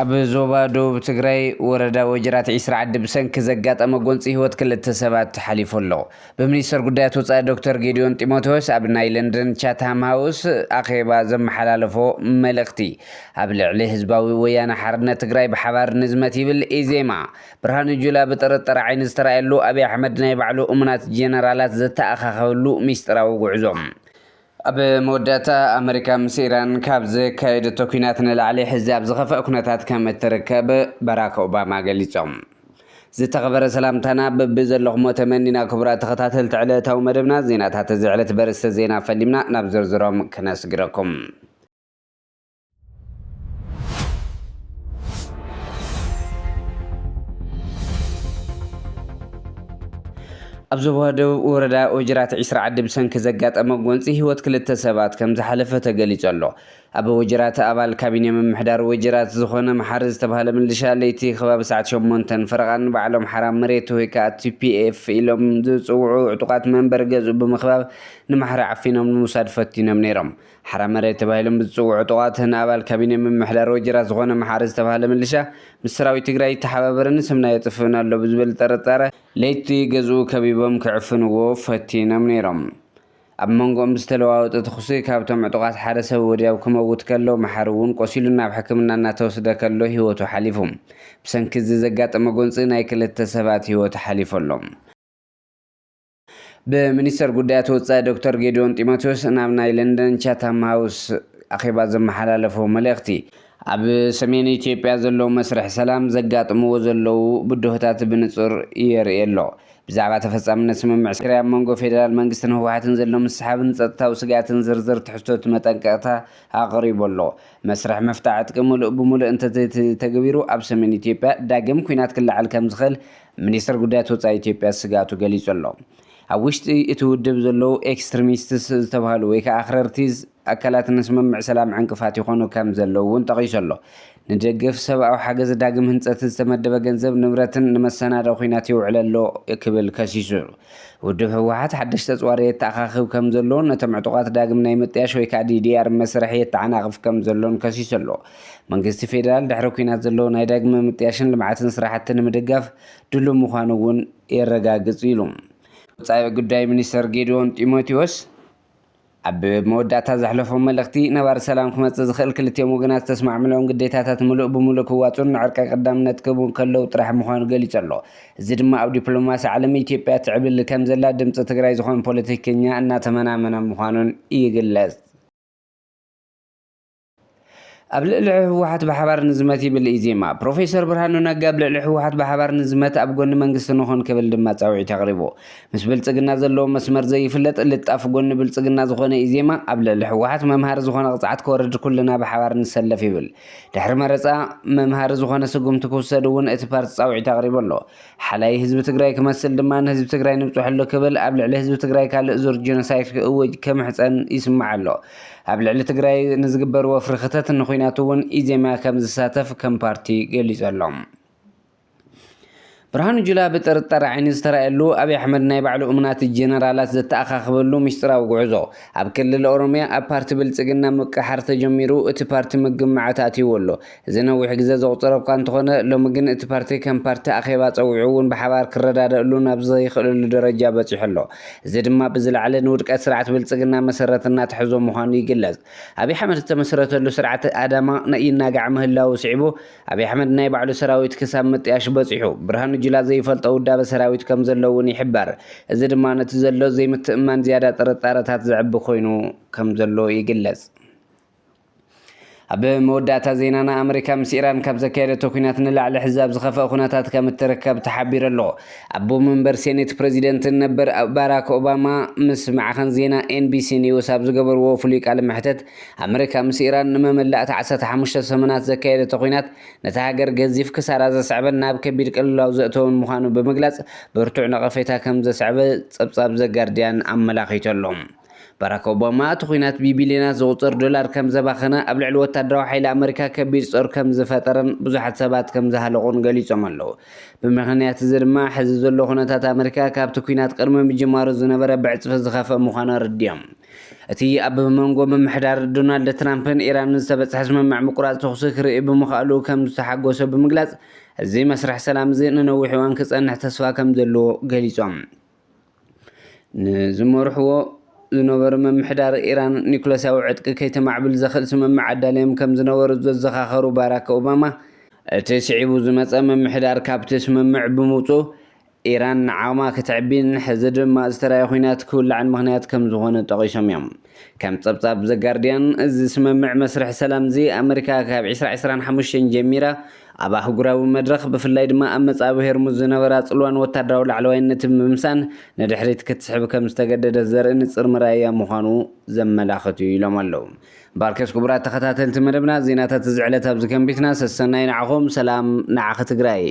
ኣብ ዞባ ደቡብ ትግራይ ወረዳ ወጀራት ዒስራ ዓዲ ብሰንኪ ዘጋጠመ ጎንፂ ህይወት ክልተ ሰባት ሓሊፉ ኣሎ። ብሚኒስተር ጉዳያት ወጻኢ ዶክተር ጌዲዮን ጢሞቴዎስ ኣብ ናይ ለንደን ቻትሃም ሃውስ ኣኼባ ዘመሓላለፎ መልእኽቲ ኣብ ልዕሊ ህዝባዊ ወያነ ሓርነት ትግራይ ብሓባር ንዝመት ይብል ኢዜማ። ብርሃኑ ጁላ ብጥርጥር ዓይኒ ዝተራእየሉ ኣብይ ኣሕመድ ናይ ባዕሉ እሙናት ጀነራላት ዘተኣኻኸበሉ ሚስጢራዊ ጉዕዞ። ኣብ መወዳእታ ኣመሪካ ምስ ኢራን ካብ ዘካየደቶ ኲናት ንላዕሊ ሕዚ ኣብ ዝኸፍኣ ኩነታት ከም እትርከብ ባራክ ኦባማ ገሊጾም። ዝተኸበረ ሰላምታና በብዘለኹሞ ተመኒና ክቡራት ተኸታተልቲ ዕለታዊ መደብና ዜናታት እዚ ዕለት በርእስተ ዜና ፈሊምና ናብ ዝርዝሮም ክነስግረኩም። ኣብ ዞባ ደቡብ ወረዳ ወጅራት ዒስራ ዓዲ ብሰንኪ ዘጋጠመ ጎንፂ ህይወት ክልተ ሰባት ከም ዝሓለፈ ተገሊጹ ኣሎ። ኣብ ወጅራት ኣባል ካቢነ ምምሕዳር ወጅራት ዝኾነ መሓሪ ዝተባህለ ምልሻ ለይቲ ከባቢ ሰዓት ሸሞንተን ፈረቓን ንበዓል ኣምሓራ መሬት ወይ ከዓ ቲፒኤፍ ኢሎም ዝፅውዑ ዕጡቓት መንበሪ ገዝኡ ብምኽባብ ንማሕሪ ዓፊኖም ንምውሳድ ፈቲኖም ነይሮም። ሓራ መሬት ተባሂሎም ብዝፅውዑ ዕጡቓት ንኣባል ካቢኔ ምምሕዳር ወጀራት ዝኾነ መሓሪ ዝተብሃለ ምልሻ ምስ ሰራዊት ትግራይ ይተሓባበርን ስምና የጥፍእን ኣሎ ብዝብል ጥርጣረ ለይቲ ገዝኡ ከቢቦም ክዕፍንዎ ፈቲኖም ነይሮም። ኣብ መንጎኦም ብዝተለዋወጠ ተኹሲ ካብቶም ዕጡቓት ሓደ ሰብ ወዲያው ክመውት ከሎ መሓሪ እውን ቆሲሉ ናብ ሕክምና እናተወስደ ከሎ ህይወቱ ሓሊፉ። ብሰንኪ እዚ ዘጋጠመ ጎንፂ ናይ ክልተ ሰባት ህይወት ሓሊፉ ኣሎ። ብሚኒስተር ጉዳያት ወጻኢ ዶክተር ጌዲዮን ጢሞቴዎስ ናብ ናይ ለንደን ቻታም ሃውስ ኣኼባ ዘመሓላለፎ መልእኽቲ፣ ኣብ ሰሜን ኢትዮጵያ ዘሎ መስርሕ ሰላም ዘጋጥምዎ ዘለዉ ብድሆታት ብንጹር የርኢ ኣሎ። ብዛዕባ ተፈጻምነት ስምምዕ ሰሪያ ኣብ መንጎ ፌደራል መንግስትን ህወሓትን ዘሎ ምስሕሓብን ጸጥታዊ ስግኣትን ዝርዝር ትሕዝቶት መጠንቀቕታ ኣቕሪቡ ኣሎ። መስርሕ ምፍታሕ ዕጥቂ ምሉእ ብምሉእ እንተዘይተተግቢሩ ኣብ ሰሜን ኢትዮጵያ ዳግም ኲናት ክለዓል ከምዝኽእል ሚኒስተር ጉዳያት ወጻኢ ኢትዮጵያ ስግኣቱ ገሊጹ ኣሎ። ኣብ ውሽጢ እቲ ውድብ ዘለዉ ኤክስትሪሚስትስ ዝተብሃሉ ወይ ከኣ ኣኽረርቲ ኣካላት ንስምምዕ ሰላም ዕንቅፋት ይኾኑ ከም ዘለዉ እውን ጠቒሱ ኣሎ። ንደገፍ ሰብኣዊ ሓገዝ ዳግም ህንጸት ዝተመደበ ገንዘብ ንብረትን ንመሰናድኦ ኲናት የውዕል ኣሎ ክብል ከሲሱ። ውድብ ህወሓት ሓደሽቲ ኣጽዋር የተኣኻኽብ ከም ዘሎን ነቶም ዕጡቓት ዳግም ናይ ምጥያሽ ወይ ከኣ ዲዲኣር መስርሕ የተዓናቕፍ ከም ዘሎን ከሲሱ ኣሎ። መንግስቲ ፌዴራል ድሕሪ ኲናት ዘሎ ናይ ዳግመ ምጥያሽን ልምዓትን ስራሕቲ ንምድጋፍ ድሉው ምዃኑ እውን የረጋግፅ ኢሉ። ወፃኢ ጉዳይ ሚኒስትር ጌዲዎን ጢሞቴዎስ ኣብ መወዳእታ ዘሕለፎ መልእኽቲ፣ ነባሪ ሰላም ክመፅእ ዝኽእል ክልቲኦም ወገናት ዝተስማዕምልኦም ግዴታታት ምሉእ ብምሉእ ክዋፅኡን ንዕርቂ ቀዳምነት ክህቡ እንከለዉ ጥራሕ ምዃኑ ገሊፁ ኣሎ። እዚ ድማ ኣብ ዲፕሎማሲ ዓለም ኢትዮጵያ ትዕብልል ከምዘላ ድምፂ ትግራይ ዝኾኑ ፖለቲከኛ እናተመናመነ ምዃኑን ይግለፅ። ኣብ ልዕሊ ህወሓት ብሓባር ንዝመት ይብል ኢዜማ። ፕሮፌሰር ብርሃኑ ነጋ ኣብ ልዕሊ ህወሓት ብሓባር ንዝመት ኣብ ጎኒ መንግስቲ ንኹን ክብል ድማ ፃውዒት ኣቕሪቡ። ምስ ብልፅግና ዘለዎ መስመር ዘይፍለጥ ልጣፍ ጎኒ ብልፅግና ዝኾነ ኢዜማ ኣብ ልዕሊ ህወሓት መምሃሪ ዝኾነ ቅፅዓት ክወርድ ኩልና ብሓባር ንሰለፍ ይብል። ድሕሪ መረፃ መምሃሪ ዝኾነ ስጉምቲ ክውሰድ እውን እቲ ፓርቲ ፃውዒት ኣቕሪቡ ኣሎ። ሓላዪ ህዝቢ ትግራይ ክመስል ድማ ንህዝቢ ትግራይ ንብፅሐሉ ክብል ኣብ ልዕሊ ህዝቢ ትግራይ ካልእ ዙር ጄኖሳይፍ ክእውጅ ክምሕፀን ይስማዕ ኣሎ። ኣብ ልዕሊ ትግራይ ንዝግበር ወፍሪ ክተት ንኹናት እውን ኢዜማ ከምዝሳተፍ ከም ፓርቲ ገሊፁ ኣሎ። ብርሃኑ ጁላ ብጥርጣረ ዓይኒ ዝተራእየሉ ኣብይ ኣሕመድ ናይ ባዕሉ እሙናት ጄነራላት ዘተኣኻኽበሉ ሚስጢራዊ ጉዕዞ። ኣብ ክልል ኦሮሚያ ኣብ ፓርቲ ብልፅግና ምቅሕሓር ተጀሚሩ እቲ ፓርቲ ምግማዓት ኣትይዎ ኣሎ። እዚ ነዊሕ ግዘ ዘቑፀረ እኳ እንተኾነ ሎሚ ግን እቲ ፓርቲ ከም ፓርቲ ኣኼባ ፀዊዑ እውን ብሓባር ክረዳደእሉ ናብ ዘይኽእለሉ ደረጃ በፂሑ ኣሎ። እዚ ድማ ብዝለዓለ ንውድቀት ስርዓት ብልፅግና መሰረት እናተሐዞ ምዃኑ ይግለፅ። ኣብይ ሓመድ ዝተመስረተሉ ስርዓት ኣዳማ ይናጋዕ ምህላዉ ስዒቡ ኣብይ ኣሕመድ ናይ ባዕሉ ሰራዊት ክሳብ ምጥያሽ በፂሑ። ብርሃኑ ጁላ ዘይፈልጦ ውዳበ ሰራዊት ከምዘሎ እውን ይሕበር። እዚ ድማ ነቲ ዘሎ ዘይምትእምማን ዝያዳ ጥርጣረታት ዘዕቢ ኮይኑ ከምዘሎ ይግለፅ። ኣብ መወዳእታ ዜናና ኣመሪካ ምስ ኢራን ካብ ዘካየደቶ ኩናት ንላዕሊ ሕዚ ኣብ ዝኸፍአ ኩነታት ከም እትርከብ ተሓቢሩ ኣሎ። ኣቦ መንበር ሴኔት ፕረዚደንትን ነበር ባራክ ኦባማ ምስ ማዕኸን ዜና ኤንቢሲ ኒውስ ኣብ ዝገበርዎ ፍሉይ ቃለ መሕተት ኣመሪካ ምስ ኢራን ንመመላእታ ዓሰርተ ሓሙሽተ ሰሙናት ዘካየደቶ ኩናት ነታ ሃገር ገዚፍ ክሳራ ዘስዐበን ናብ ከቢድ ቅልውላው ዘእተወን ምዃኑ ብምግላጽ ብርቱዕ ነቐፌታ ከም ዘስዐበ ጸብጻብ ዘጋርድያን ኣመላኺቱ ኣሎ። ባራክ ኦባማ እቲ ኲናት ብቢልዮናት ዝቑጸር ዶላር ከም ዘባኸነ፣ ኣብ ልዕሊ ወታደራዊ ሓይሊ ኣመሪካ ከቢድ ጾር ከም ዝፈጠረን ብዙሓት ሰባት ከም ዝሃለቑን ገሊጾም ኣለዉ። ብምኽንያት እዚ ድማ ሕዚ ዘሎ ኩነታት ኣመሪካ ካብቲ ኲናት ቅድሚ ምጅማሩ ዝነበረ ብዕጽፊ ዝኸፍእ ምዃኑ ኣረዲኦም። እቲ ኣብ መንጎ ምምሕዳር ዶናልድ ትራምፕን ኢራንን ዝተበጽሐ ስምምዕ ምቁራጽ ተኹሲ ክርኢ ብምኽኣሉ ከም ዝተሓጎሰ ብምግላጽ፣ እዚ መስርሕ ሰላም እዚ ንነዊሕ እዋን ክጸንሕ ተስፋ ከም ዘለዎ ገሊጾም። ንዝመርሕዎ ዝነበሩ ምምሕዳር ኢራን ኒዩክለሳዊ ዕጥቂ ከይተማዕብል ዘኽእል ስምምዕ ኣዳልዮም ከም ዝነበሩ ዘዘኻኸሩ ባራክ ኦባማ፣ እቲ ስዒቡ ዝመጸ ምምሕዳር ካብቲ ስምምዕ ብምውጽኡ ኢራን ዓቕማ ክትዕቢን ሕዚ ድማ ዝተራየ ኲናት ክውላዕን ምኽንያት ከም ዝዀነ ጠቒሶም እዮም። ከም ጸብጻብ ዘ ጋርድያን፣ እዚ ስምምዕ መስርሕ ሰላም'ዚ፣ ኣመሪካ ካብ ዕስራ ዕስራን ሓሙሽተን ጀሚራ ኣብ ኣህጉራዊ መድረኽ፣ ብፍላይ ድማ ኣብ መጻብብ ሄርሙዝ ዝነበራ ጽልዋን ወተሃደራዊ ላዕለዋይነትን ብምምሳን ንድሕሪት ክትስሕብ ከም ዝተገደደት ዘርኢ ንጽር መርኣያ ምዃኑ ዘመላኽት'ዩ ኢሎም ኣለው። ባርከስ ኩቡራት ተኸታተልቲ መደብና ዜናታት እዚ ዕለት ኣብዚ ከንቢትና ሰሰናዩ ንዓኹም ሰላም ንዓኺ ትግራይ።